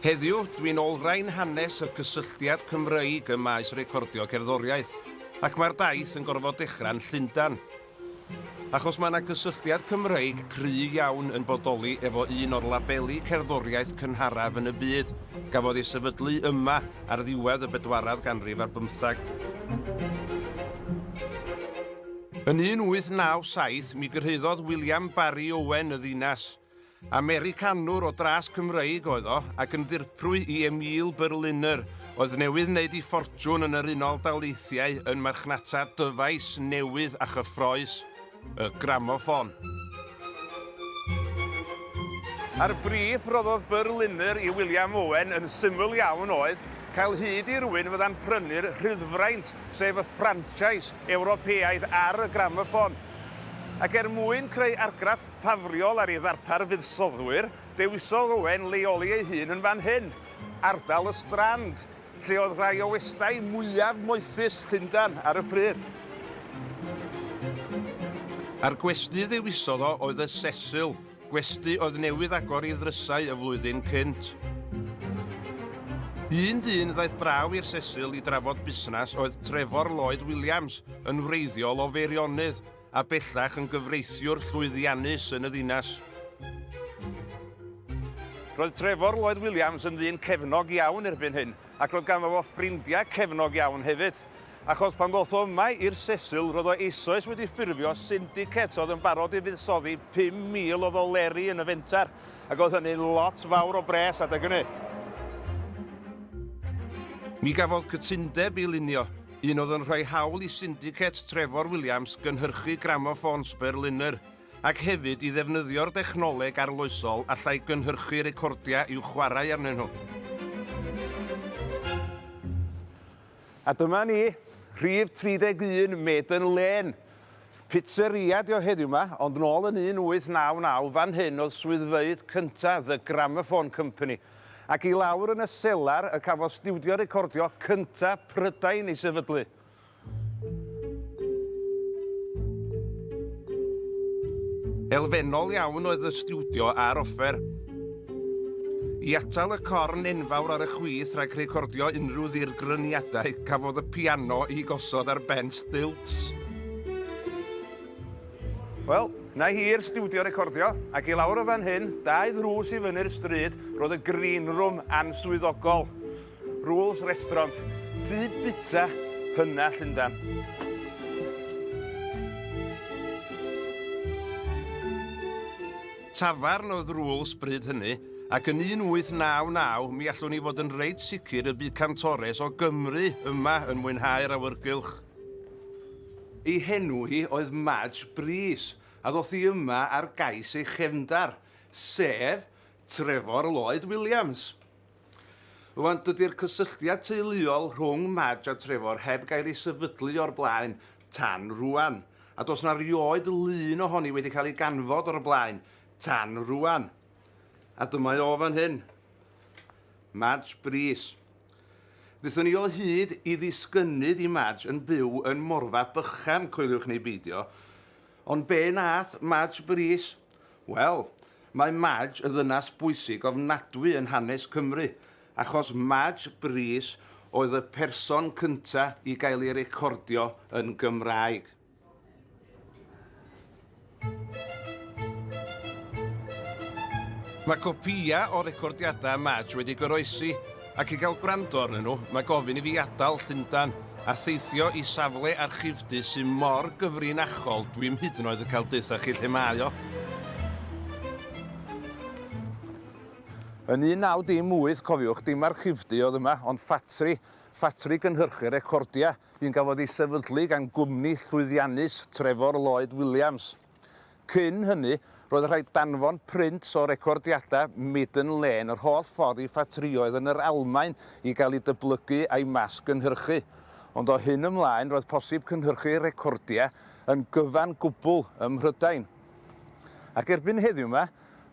Heddiw, dwi'n olrhain hanes y cysylltiad Cymreig ym maes recordio cerddoriaeth, ac mae'r daith yn gorfod dechrau'n Llundain. Achos mae yna gysylltiad Cymreig cry iawn yn bodoli efo un o'r labeli cerddoriaeth cynharaf yn y byd, gafodd ei sefydlu yma ar ddiwedd y bedwaredd ganrif ar bymtheg. Yn 1897 mi gyrhaeddodd William Barry Owen y ddinas. Americanwr o dras Cymreig oedd o ac yn ddirprwy i Emile Berliner oedd newydd wneud ei ffortiwn yn yr Unol Daleithiau yn marchnata dyfais newydd a chyffroes, y gramoffon. A'r brîff roddodd Berliner i William Owen yn syml iawn oedd cael hyd i rywun fydda'n prynu'r rhyddfraint, sef y ffranchais Ewropeaidd ar y gramoffon. Ac er mwyn creu argraff ffafriol ar ei ddarpar fuddsoddwyr, dewisodd Owen leoli ei hun yn fan hyn, ardal y Strand, lle oedd rhai o westai mwyaf moethus Llundain ar y pryd. A'r gwesty ddewisodd o oedd y Cecil, gwesty oedd newydd agor ei ddrysau y flwyddyn cynt. Un dyn ddaeth draw i'r Cecil i drafod busnes oedd Trevor Lloyd Williams, yn wreiddiol o Feirionydd, a bellach yn gyfreithiwr llwyddiannus yn y ddinas. Roedd Trevor Lloyd Williams yn ddyn cefnog iawn erbyn hyn, ac roedd ganddo fo ffrindiau cefnog iawn hefyd. Achos pan ddoth o yma i'r Sesil, roedd o eisoes wedi ffurfio syndicet oedd yn barod i fuddsoddi 5,000 o ddoleri yn y fenter, ac oedd hynny'n lot fawr o bres adeg hynny. Mi gafodd cytundeb i lunio Un oedd yn rhoi hawl i Syndicate Trevor Williams gynhyrchu gramoffôns Berliner, ac hefyd i ddefnyddio'r dechnoleg arloesol allai gynhyrchu recordiau i'w chwarae arnyn nhw. A dyma ni, rhif 31 Maiden Lane. Pizzeria ydi o heddiw 'ma, ond nôl yn 1899 fan hyn oedd swyddfeydd cynta The Gramophone Company, Ac i lawr yn y selar y cafodd stiwdio recordio cynta' Prydain ei sefydlu. Elfennol iawn oedd y stiwdio a'r offer. I atal y corn enfawr ar y chwith rhag recordio unrhyw ddirgryniadau, cafodd y piano ei gosod ar ben stilts. Wel, 'na hi i'r stiwdio recordio, ac i lawr o fan hyn, dau ddrws i fyny'r stryd, roedd y green room answyddogol. Rules Restaurant, tŷ bita hyna Llundan. Tafarn oedd Rules bryd hynny, ac yn 1899 mi allwn ni fod yn reit sicr y bu cantores o Gymru yma yn mwynhau'r awyrgylch. Ei henw hi oedd Madge Brys, a ddoth hi yma ar gais ei chefndar, sef Trefor Lloyd Williams. Rwan, dydy'r cysylltiad teuluol rhwng Madge a Trefor heb gael ei sefydlu o'r blaen tan rwan, a does na rioed lun ohoni wedi cael ei ganfod o'r blaen tan rwan. A dyma o fan hyn. Madge Brys. Dethon ni o hyd i ddisgynnydd i Madge yn byw yn Morfa Bychan, coeliwch neu beidio. Ond be nath Madge brys? Wel, mae Madge yn ddynas bwysig ofnadwy yn hanes Cymru, achos Madge brys oedd y person cynta i gael ei recordio yn Gymraeg. Mae copïau o recordiadau Madge wedi goroesi, ac i gael gwrando arnyn nhw, mae gofyn i fi adael Llundain a theithio i safle archifdy sy'n mor gyfrinachol dwi'm hyd yn oed yn cael deutha chi lle mae o. Yn 19 dim wyth, cofiwch, dim archifdy oedd yma, ond ffatri, ffatri gynhyrchu recordiau. Bu'n gafodd ei sefydlu gan gwmni llwyddiannus Trevor Lloyd Williams. Cyn hynny, roedd rhaid danfon print o recordiadau Maiden Lane yr holl ffordd i ffatrïoedd yn yr Almaen i gael eu dyblygu a'u mas-gynhyrchu. Ond o hyn ymlaen, roedd posib cynhyrchu recordiau yn gyfan gwbl ym Mhrydain. Ac erbyn heddiw mae.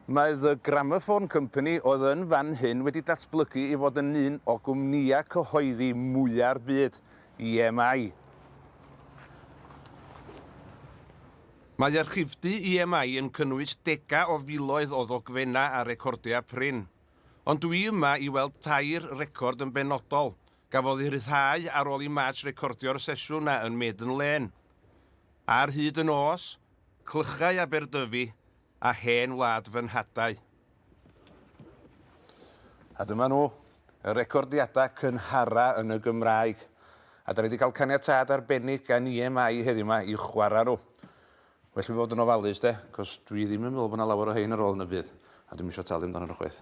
Mae The Gramophone Company oedd yn fan hyn wedi datblygu i fod yn un o gwmnïau cyhoeddi mwya'r byd, EMI. Mae archifdy EMI yn cynnwys degau o filoedd o ddogfennau a recordiau prin. Ond dw i yma i weld tair record yn benodol, gafodd eu rhyddhau ar ôl i March recordio'r sesiwn 'na yn Maiden Lane. Ar hyd y nos, clychau Aberdyfi, a hen wlad fy nhadau. A dyma nhw, y recordiadau cynhara yn y Gymraeg, a dan ni wedi cael caniatâd arbennig gan EMI heddiw ma i chwarae nhw. Well fi fod yn ofalus de, cos dwi ddim yn meddwl bod yna lawer o hein ar ôl yn y byd, a dwi'm isio talu amdanyn nhw chwaith.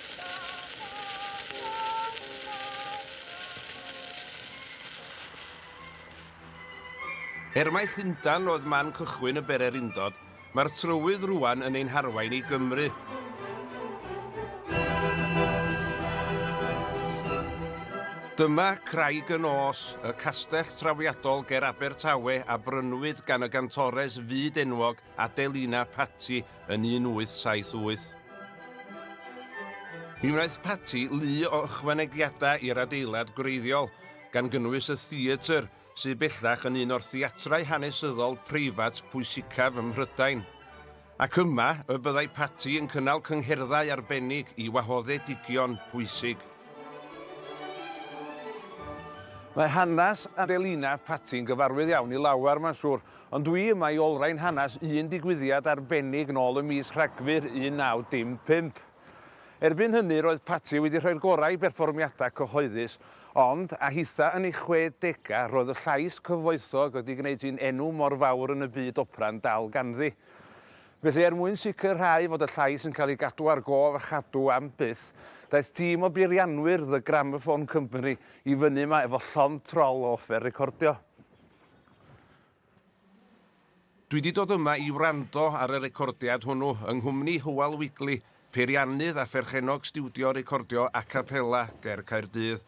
Er mai Llundain oedd man cychwyn y bererindod, mae'r trywydd rwan yn ein harwain i Gymru. Dyma Craig y Nos, y castell trawiadol ger Abertawe a brynwyd gan y gantores fyd-enwog Adelina Patti yn 1878. Mi wnaeth Patti lu o ychwanegiadau i'r adeilad gwreiddiol, gan gynnwys y theatr, sydd bellach yn un o'r theatrau hanesyddol preifat pwysicaf ym Mhrydain. Ac yma y byddai Patti yn cynnal cyngherddau arbennig i wahoddedigion pwysig. Mae hanes Adelina Patti yn gyfarwydd iawn i lawer, mae'n siŵr, Ond dwi yma i olrhain hanes un digwyddiad arbennig nôl ym mis Rhagfyr 1955. Erbyn hynny roedd Patti wedi rhoi'r gorau i berfformiadau cyhoeddus, ond, a hitha yn ei chwedegau, roedd y llais cyfoethog wedi gwneud hi'n enw mor fawr yn y byd opera'n dal ganddi. Felly, er mwyn sicrhau fod y llais yn cael ei gadw ar gof a chadw am byth, daeth tîm o beirianwyr The Gramophone Company i fyny yma efo llond trol o offer recordio. Dwi 'di dod yma i wrando ar y recordiad hwnnw yng nghwmni Hywel Wigley, peiriannydd a pherchennog stiwdio recordio a capella ger Caerdydd.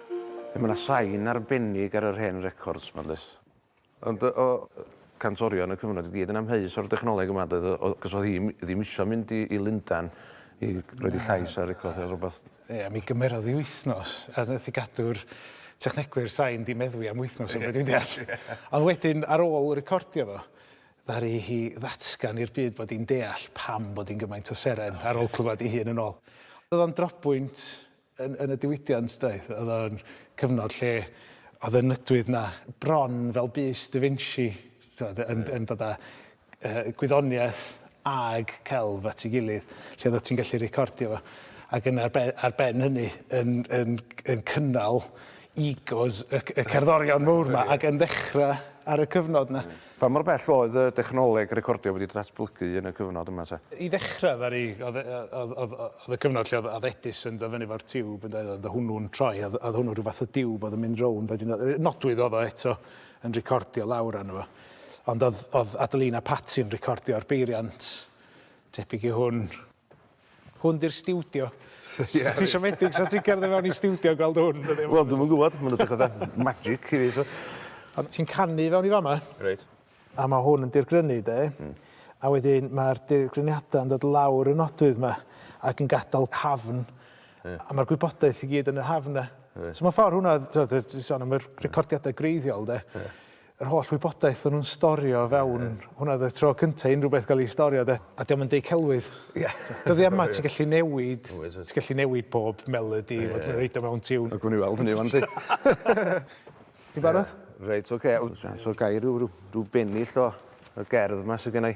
Mae 'na sain arbennig ar yr hen records 'ma does? Ond o cantorion y cyfnod i gyd yn amheus o'r dechnoleg yma doedd o o cos oedd hi m- ddim isio mynd i i Lundan i roid 'i llais ar record ne' rwbath. Ie mi gymerodd 'i wythnos a nath 'i gadw'r technegwyr sain 'di meddwi am wythnos o be' dwi'n deall. Ond wedyn ar ôl recordio fo ddaru hi ddatgan i'r byd bod 'i'n deall pam bod 'i'n gymaint o seren ar ôl clwad 'i hun yn ôl. O'dd o'n drobwynt yn, yn y diwydiant doedd? Oedd o'n cyfnod lle oedd y nydwydd 'na bron fel bys Da Vinci, t'mod, yn, yn dod â uh, gwyddoniaeth ag celf at ei gilydd, lle oedd ti'n gallu recordio fo. Ac yn ar ben, ar ben hynny, yn, yn, yn cynnal egos y, y cerddorion mowr yma, ac yn ddechrau ar y cyfnod 'na. Pa mor bell oedd y dechnoleg recordio wedi datblygu yn y cyfnod yma te? I ddechrau, ddaru, oedd, oedd, oedd, oedd y cyfnod lle oedd, oedd Edison yn dod fyny efo'r tiwb, yn doedd, oedd hwnnw'n troi, oedd, oedd hwnnw rhyw fath o diwb oedd yn mynd rownd, oedd hi'n nodwydd oedd o eto yn recordio lawr arno fo. Ond oedd, oedd Adelina Patti yn recordio'r beiriant tebyg i hwn. Hwn 'di'r stiwdio. Ie. Os ti siomedig sa ti'n cerdded fewn i stiwdio a gweld hwn. Wel dwi'm yn gwbod, ma'n edrych fatha magic i fi so. Ond ti'n canu i fewn i fama. Reit. A ma' hwn yn dirgrynu 'de. Hmm. A wedyn ma'r dirgryniada yn dod lawr y nodwydd 'ma ac yn gadal hafn. Ie. A ma'r gwybodaeth i gyd yn y hafn 'na. Reit. So mewn ffor hwnna t'od yy ti sôn am yr recordiada gwreiddiol 'de. Ie. yr holl wybodaeth o'n nhw'n storio fewn... ie. ...hwnna oedd y tro cynta' i unrhyw beth gael ei storio 'de. A 'di o'm yn deud celwydd. Ie. Dyddie yma ti'n gallu newid... Oes oes. ...ti'n gallu newid pob melody fod yn roid o mewn tiwn. A gewn ni weld hynny 'wan yndi? Ti'n barod? Reit ocê. O's 'na o's 'na gair rhyw rhyw rhyw bennill o y gerdd 'ma sy gennai?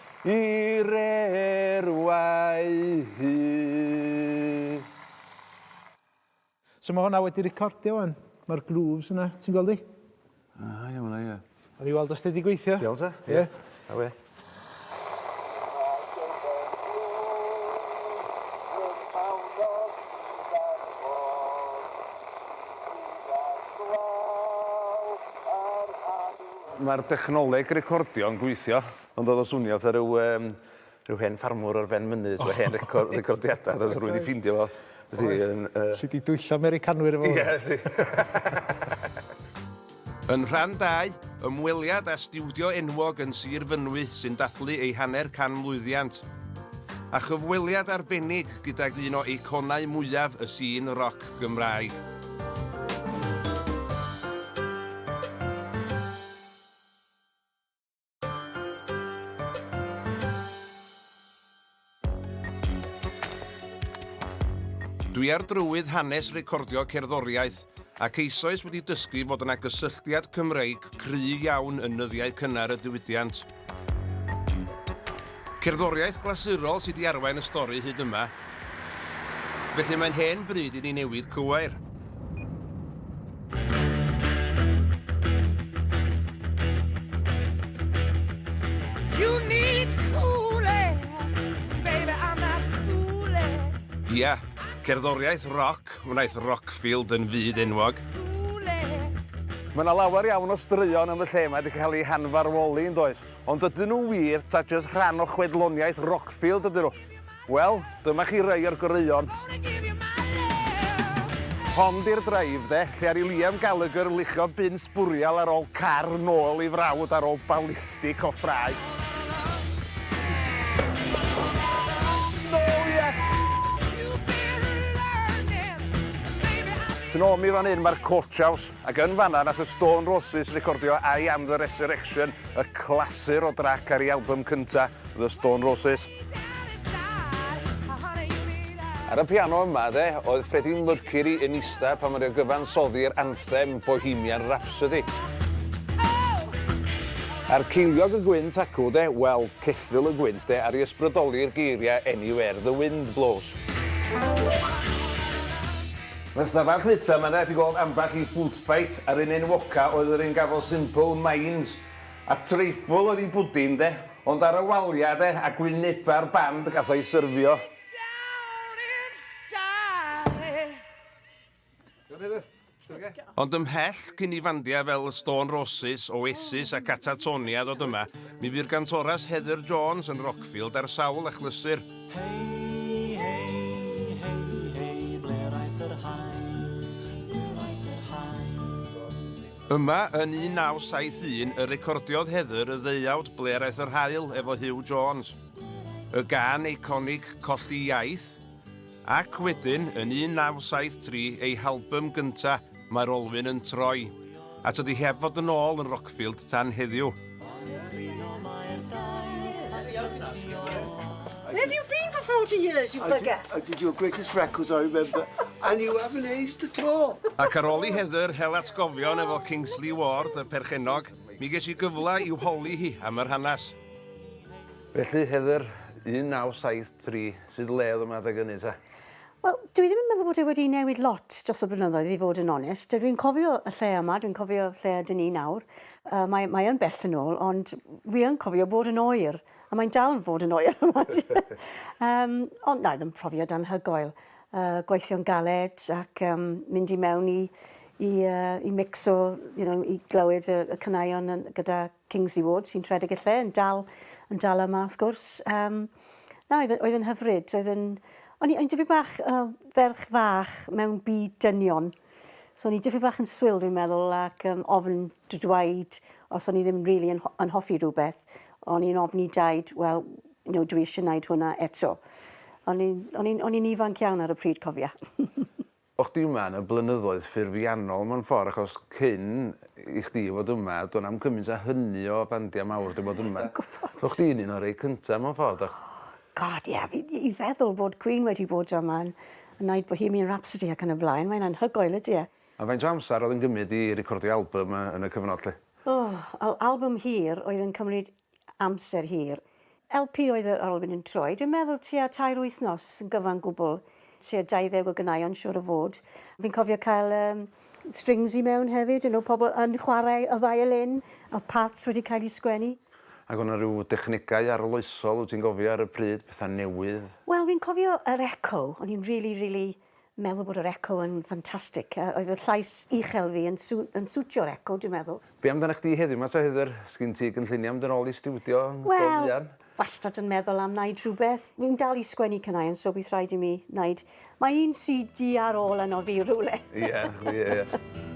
i reerwau hi. So ma' honna wedi recordio ŵan. Ma'r grooves yna, ti'n gweld 'i? A ia ma' 'na ia. Awn ni weld os 'di 'di gweithio. Iawn ta. Ie. Awe. Ma'r dechnoleg recordio yn gweithio. Ma'n dod o swnio fatha ryw yym ryw hen ffarmwr ar ben mynydd efo hen record recordiada a rywun 'di ffindio fo wsdi yn yy... Alli di dwyllo Americanwyr efo hwn. Ie alli. Yn rhan dau, ymweliad â stiwdio enwog yn Sir Fynwy sy'n dathlu ei hanner can mlwyddiant. A chyfweliad arbennig gydag un o eiconau mwyaf y sîn roc Gymraeg. Dwi ar drywydd hanes recordio cerddoriaeth ac eisoes wedi dysgu fod yna gysylltiad Cymreig cry iawn yn nyddiau cynnar y diwydiant. Cerddoriaeth glasurol sy 'di arwain y stori hyd yma, felly mae'n hen bryd i ni newid cywair. Ia, cerddoriaeth roc wnaeth Rockfield yn fyd enwog. Mae 'na lawer iawn o straeon yn fy lle 'ma 'di cael eu hanfarwoli, yn does? Ond ydyn nhw wir ta jyst rhan o chwedloniaeth Rockfield ydyn nhw? Wel, dyma chi rai o'r goreuon. Hon di'r drive de, lle ar i Liam Gallagher luchio bin sbwriel ar ôl car nôl ei frawd ar ôl balistic o ffrau. Tyn ôl mi fan hyn, mae'r coach house. Ac yn fanna nath y Stone Roses recordio I Am The Resurrection, y clasur o drac ar ei album cynta, The Stone Roses. Ar y piano yma, de, oedd Freddie Mercury yn ista pan oedd o'n gyfansoddi'r anthem Bohemian Rhapsody. A'r ceiliog y gwynt acw, de, wel, ceffyl y gwynt, de, ar i ysbrydoli'r geiriau Anywhere the Wind Blows. Yn stafell fwyta mae 'na i gweld ambell i food fight a'r un enwoca oedd yr un gafodd Simple Minds a Treifwl oedd i bwdin de ond ar y walia de a gwyneba'r band gath o'i syrfio. Ond ymhell cyn i fandia fel y Stone Roses, Oasis a Catatonia ddod yma mi fu'r gantoras Heather Jones yn Rockfield ar sawl achlysur. Hei, hei, hei, hei, ble aeth yr haen? Ble aeth yr haen? Yma, yn 1971, y recordiodd Heather y ddeuawd Ble aeth yr haul efo Huw Jones. Y gân eiconig Colli Iaith. Ac wedyn, yn 1973, ei halbym gynta', Mae'r olwyn yn troi. A tydi heb fod yn ôl yn Rockfield tan heddiw. Where have you been for 40 years, you bugger? I did, I did your greatest records, I remember. And you haven't aged at all. Ac ar ôl i Heather hel atgofion efo Kingsley Ward, y perchennog, mi ges i gyfle i'w holi hi am yr hanes. Felly, Heather, 1973, sut le oedd yma adeg hynny, ta? Wel, dw i ddim yn meddwl bod e wedi newid lot dros y blynyddoedd, i fod yn onest. Dw i'n cofio y lle yma, dwi'n cofio lle ydyn ni nawr. Uh, mae, mae yn bell yn ôl, ond wi yn cofio bod yn oer, a mae'n dal yn fod yn oer yma. um, ond na, ddim profiad anhygoel. Uh, gweithio'n galed ac um, mynd i mewn i i, uh, i mix o, you know, i glywed y, y cynaion gyda Kingsley Ward sy'n rhedeg y lle yn dal yn dal yma wrth gwrs. Yym na oedd oedd yn hyfryd. Oedd yn o'n i o'n dipyn bach uh, ferch fach mewn byd dynion. So o'n i dipyn bach yn swil dwi'n meddwl ac um, ofn dweud os o'n i ddim rili really yn, yn hoffi rhywbeth. O'n i'n ofni daid, wel, you know, dwi eisiau gwneud hwnna eto. O'n i'n ifanc iawn ar y pryd cofia. O chdi yma yn y blynyddoedd ffurfiannol mewn ffordd achos cyn i chdi fod yma do' na'm cymint a hynny o bandia mawr 'di bod yma. Dwi'n gwbod. So chdi'n un o rei cynta mewn ffordd do? God ie fi i feddwl bod Queen wedi bod yma yn yn neud Bohemian Rhapsody ac yn y blaen mae'n anhygoel ydi e? A faint o amser o'dd yn gymyd i recordio albym yy yn y cyfnod 'lly? O! Al- albym hir oedd yn cymryd amser hir. LP oedd yr olwyn yn troi, dwi'n meddwl tua tair wythnos yn gyfan gwbl, tua 20 o ganeuon siŵr o fod. Fi'n cofio cael um, strings i mewn hefyd, you know, pobl yn chwarae y violin, a parts wedi cael eu sgwennu. Ac o'na rhyw dechnegau arloesol, wyt ti'n gofio ar y pryd, pethau newydd? Wel, fi'n cofio yr echo, o'n i'n rili, rili meddwl bod yr eco yn ffantastig a oedd y llais uchel fi yn sw- yn swtio'r eco dwi'n meddwl. Be amdanach chdi heddiw 'ma ta Heather? Sgin ti gynlluniau mynd yn ôl i stiwdio yn go fuan? Wel, wastad yn meddwl am wneud rhywbeth. Fi'n dal i sgwennu caneuon so bydd rhaid i mi wneud... Mae un CD ar ôl arno fi rywle. Ie, ie, ie.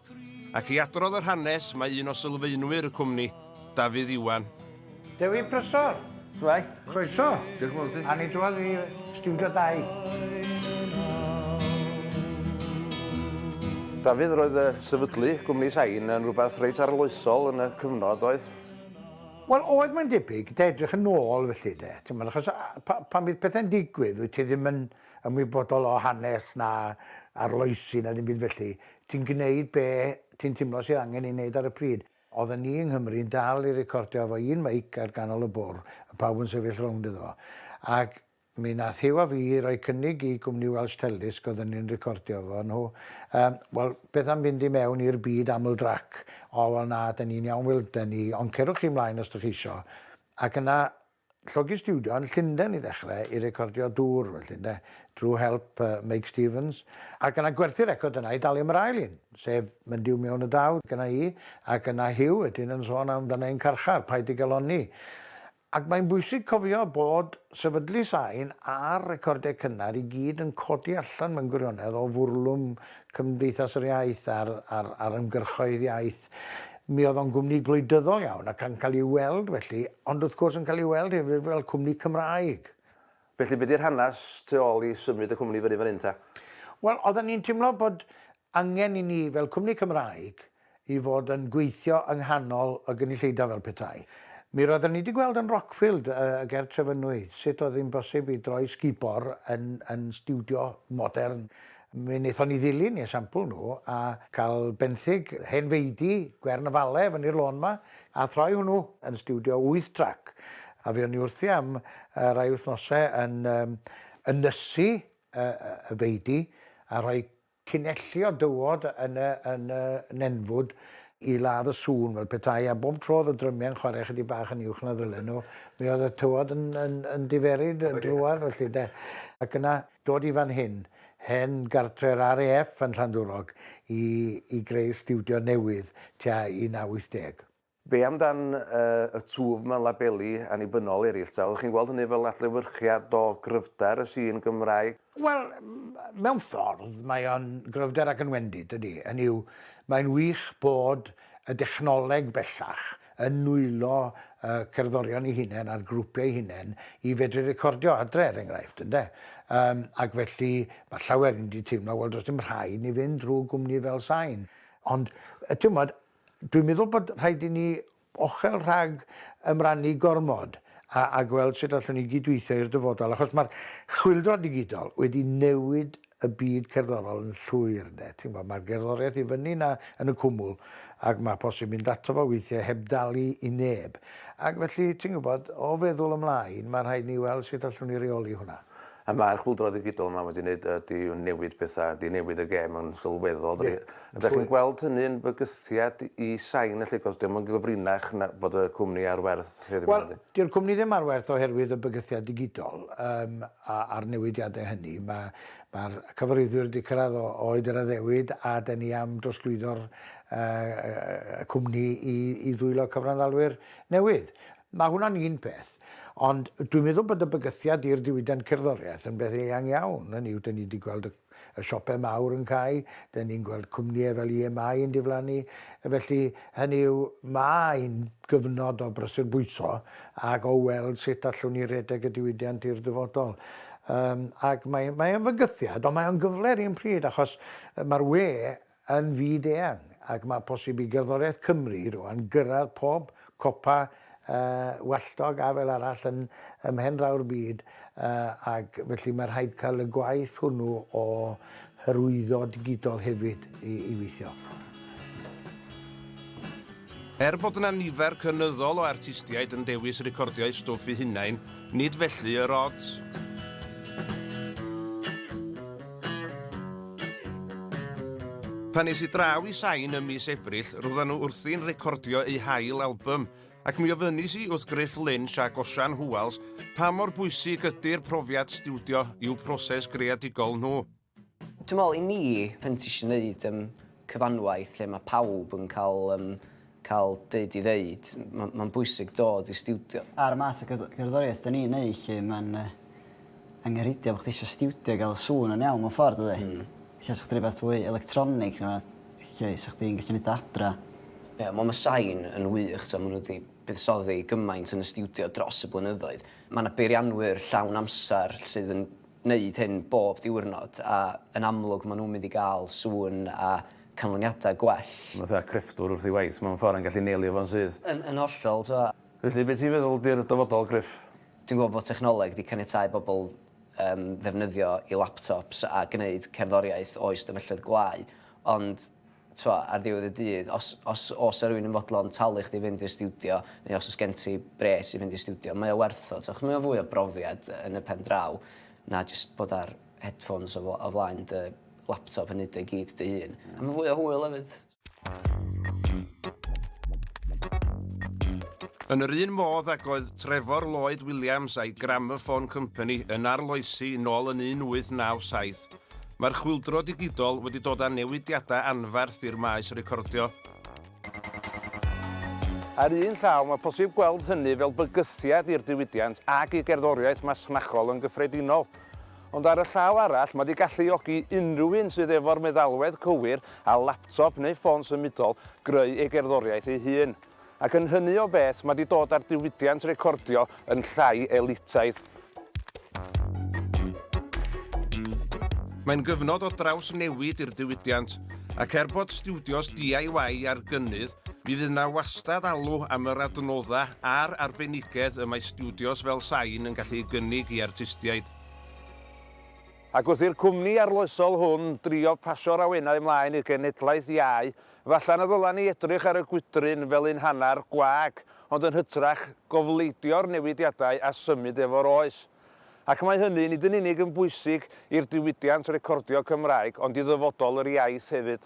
Ac i adrodd yr hanes, mae un o sylfaenwyr y cwmni, Dafydd Iwan. Dewi Prysor! Shwmae? Croeso! Diolch yn fawr i ti. A ni drwodd i Stiwdio Dau. Dafydd, roedd y sefydlu gwmni Sain yn rhywbeth reit arloesol yn y cyfnod, oedd? Wel, oedd, mae'n debyg, 'da edrych yn ôl felly, 'de. T'mod, achos pan fydd pethau'n digwydd, wyt ti ddim yn ymwybodol o hanes na arloesi na dim byd felly. Ti'n gneud be ti'n timlo sydd angen ei neud ar y pryd. Odden ni yng Nghymru yn dal i recordio efo un meic ar ganol y bwr a pawb yn sefyll rownd iddo fo. Ac mi nath Huw a fi roi cynnig i gwmni Welsh Teledisc odden ni'n recordio efo nhw yym wel beth am fynd i mewn i'r byd aml drac? O wel na 'den ni'n iawn Wil 'den ni ond cerwch chi mlaen os dych chi isio. Ac yna Llogi stiwdio yn Llundain i ddechrau i recordio dŵr felly ynde, drwy help Meic Stevens, ac yna gwerthu record yna i dalu am yr ail un, sef Mynd I'w Mewn y Daw gynna i, ac yna Huw wedyn yn sôn am dan ein carchar, Paid dy Galonni. Ac mae'n bwysig cofio bod sefydlu sain a'r recordiau cynnar i gyd yn codi allan mewn gwirionedd o fwrlwm Cymdeithas yr Iaith a'r ymgyrchoedd iaith. Mi oedd o'n gwmni gwleidyddol iawn ac yn cael ei weld felly, ond wrth gwrs yn cael ei weld hefyd fel cwmni Cymraeg. Felly be di'r hanes tu ôl i symud y cwmni fyny fan hyn ta? Wel, oedden ni'n timlo bod angen i ni fel cwmni Cymraeg i fod yn gweithio yng nghanol y gynulleidfa fel petai. Mi roedden ni wedi gweld yn Rockfield y ger Trefynwy sut oedd hi'n bosib i droi sgubor yn yn stiwdio modern. Mi wnaethon ni ddilyn eu sampl nhw a cael benthyg hen feudy Gwern y Fale fyny'r lôn 'ma a throi hwnnw yn stiwdio wyth trac. A fuon ni wrthi am rai wythnosau yn ynysu y feudy a rhoi tunelli o dywod yn y nenfwd i ladd y sŵn fel petai, a bob tro oedd y drymiau'n chwarae ychydig bach yn uwch na ddylen nhw, mi oedd y tywod yn diferu drwodd felly 'de. Ac yna dod i fan hyn, hen gartre'r RAF yn Llandwrog, i i greu stiwdio newydd tua 1980. Be amdan y twf mewn labeli annibynnol eraill ta? Oeddech chi'n gweld hynny fel adlewyrchiad o gryfder y sîn Gymraeg? Wel, mewn ffordd, mae o'n gryfder ac yn wendid, dydi? Hynny yw, mae'n wych bod y dechnoleg bellach yn nwylo y cerddorion eu hunain a'r grwpiau eu hunain i fedru recordio adre er enghraifft ynde? Yym ac felly mae llawer yn wedi teimlo wel does dim rhaid ni fynd drwy gwmni fel Sain. Ond yy timod dwi'n meddwl bod rhaid i ni ochel rhag ymrannu gormod a a gweld sut allwn ni gydweithio i'r dyfodol achos mae'r chwyldro digidol wedi newid y byd cerddorol yn llwyr ynde, ti'n gwybod, mae'r gerddoriaeth i fyny na yn y cwmwl ac mae posib mynd ato fo weithiau heb dalu i neb. Ac felly, ti'n gwybod, o feddwl ymlaen, mae rhaid ni weld sut allwn ni reoli hwnna. A mae'r chwyldro ddigidol yma wedi wneud, wedi newid pethau, wedi newid y gêm yn sylweddol dydy. A dach chi'n gweld hynny yn bygythiad i Shine felly, achos dio'm yn gyfrinach na bod y cwmni ar werth heddiw yma nadi? Wel, dyw'r cwmni ddim ar werth oherwydd y bygythiad digidol. Yym a'r newidiadau hynny. Mae, mae'r cyfarwyddwyr wedi cyrraedd o, oed yr addewid a dyn ni am drosglwyddo'r uh, y cwmni i, i ddwylo cyfranddalwyr newydd. Mae hwnna'n un peth. Ond dwi'n meddwl bod y bygythiad i'r diwydiant cerddoriaeth yn beth eang iawn. Hynny yw, dyn ni wedi gweld y y siopau mawr yn cau, dan ni'n gweld cwmnïau fel EMI yn diflannu, felly hynny yw mae hi'n gyfnod o brysur bwyso ac o weld sut allwn ni redeg y diwydiant i'r dyfodol. Yym, ac mae, mae o'n fygythiad, ond mae o'n gyfle yr un pryd, achos mae'r we yn fyd-eang ac mae posib i gerddoriaeth Cymru rŵan gyrraedd pob copa walltog a fel arall yn ym mhen draw'r byd ac felly mae rhaid cael y gwaith hwnnw o hyrwyddo digidol hefyd i weithio. Er bod yna nifer cynyddol o artistiaid yn dewis recordio eu stwff eu hunain, nid felly yr odds. Pan es i draw i Sain ym mis Ebrill, roeddan nhw wrthi'n recordio eu hail album, ac mi ofynis i wrth Griff Lynch a Gosian Hwals pa mor bwysig ydy'r profiad stiwdio i'w proses greadigol nhw. Dwi'n meddwl i mi, pan ti eisiau gwneud yym cyfanwaith lle mae pawb yn cael yym cael deud ei ddeud, ma' ma'n bwysig dod i stiwdio. Ar y math o gerdd- gerddoriaeth 'dan ni'n neud 'lly ma'n yy angenrheidiol bo' chdi isio stiwdio i ga'l y sŵn yn iawn mewn ffordd dydi? Hmm. Ella sa chdi roi rwbath fwy electronig ne' wbath lle 'sa chdi'n gallu neud o adra. Ie wel ma' sain yn wych t'o' ma' n'w 'di buddsoddi gymaint yn y stiwdio dros y blynyddoedd. Ma' 'na beirianwyr llawn amser sydd yn wneud hyn bob diwrnod a yn amlwg maen nhw'n mynd i gael sŵn a canlyniadau gwell. Mae fatha crefftwr wrth ei waith mewn ffordd yn gallu neilio fo'n syth. Yn yn hollol, t'mo'. Felly, be' ti'n feddwl 'di'r dyfodol, Gruff? Dwi'n gweld bod technoleg 'di caniatáu bobl yym ddefnyddio 'u laptops a gneud cerddoriaeth o'i stafelloedd gwlâu, ond t'mo', ar ddiwedd y dydd, os os o's 'na rywun yn fodlon talu chdi i fynd i'r stiwdio, neu os o's gen ti bres i fynd i'r stiwdio, mae o werth o, t'mo', mae o fwy o brofiad yn y pen draw na jyst bod ar headphones o fl- o flaen dy laptop yn neud o i gyd dy hun. A ma' fwy o hwyl efyd. Yn yr un modd ag oedd Trevor Lloyd Williams a'i Gramophone Company yn arloesi nôl yn 1897, Mae'r chwyldro digidol wedi dod â newidiadau anferth i'r maes recordio. Ar un llaw, mae posib gweld hynny fel bygythiad i'r diwydiant ac i gerddoriaeth masnachol yn gyffredinol. Ond ar y llaw arall, mae 'di galluogi unrhyw un sydd efo'r meddalwedd cywir a laptop neu ffôn symudol greu ei gerddoriaeth ei hun. Ac yn hynny o beth, mae 'di dod â'r diwydiant recordio yn llai elitaidd. Mae'n gyfnod o drawsnewid i'r diwydiant, ac er bod stiwdios DIY ar gynnydd, mi fydd 'na wastad alw am yr adnoddau a'r arbenigedd y mae stiwdios fel Sain yn gallu ei gynnig i artistiaid. Ac wrth i'r cwmni arloesol hwn drio pasio'r awenau ymlaen i'r genhedlaeth iau, Efallai na ddylen ni edrych ar y gwydryn fel un hanner gwag, ond yn hytrach, gofleidio'r newidiadau a symud efo'r oes. Ac mae hynny nid yn unig yn bwysig i'r diwydiant recordio Cymraeg, ond i ddyfodol yr iaith hefyd.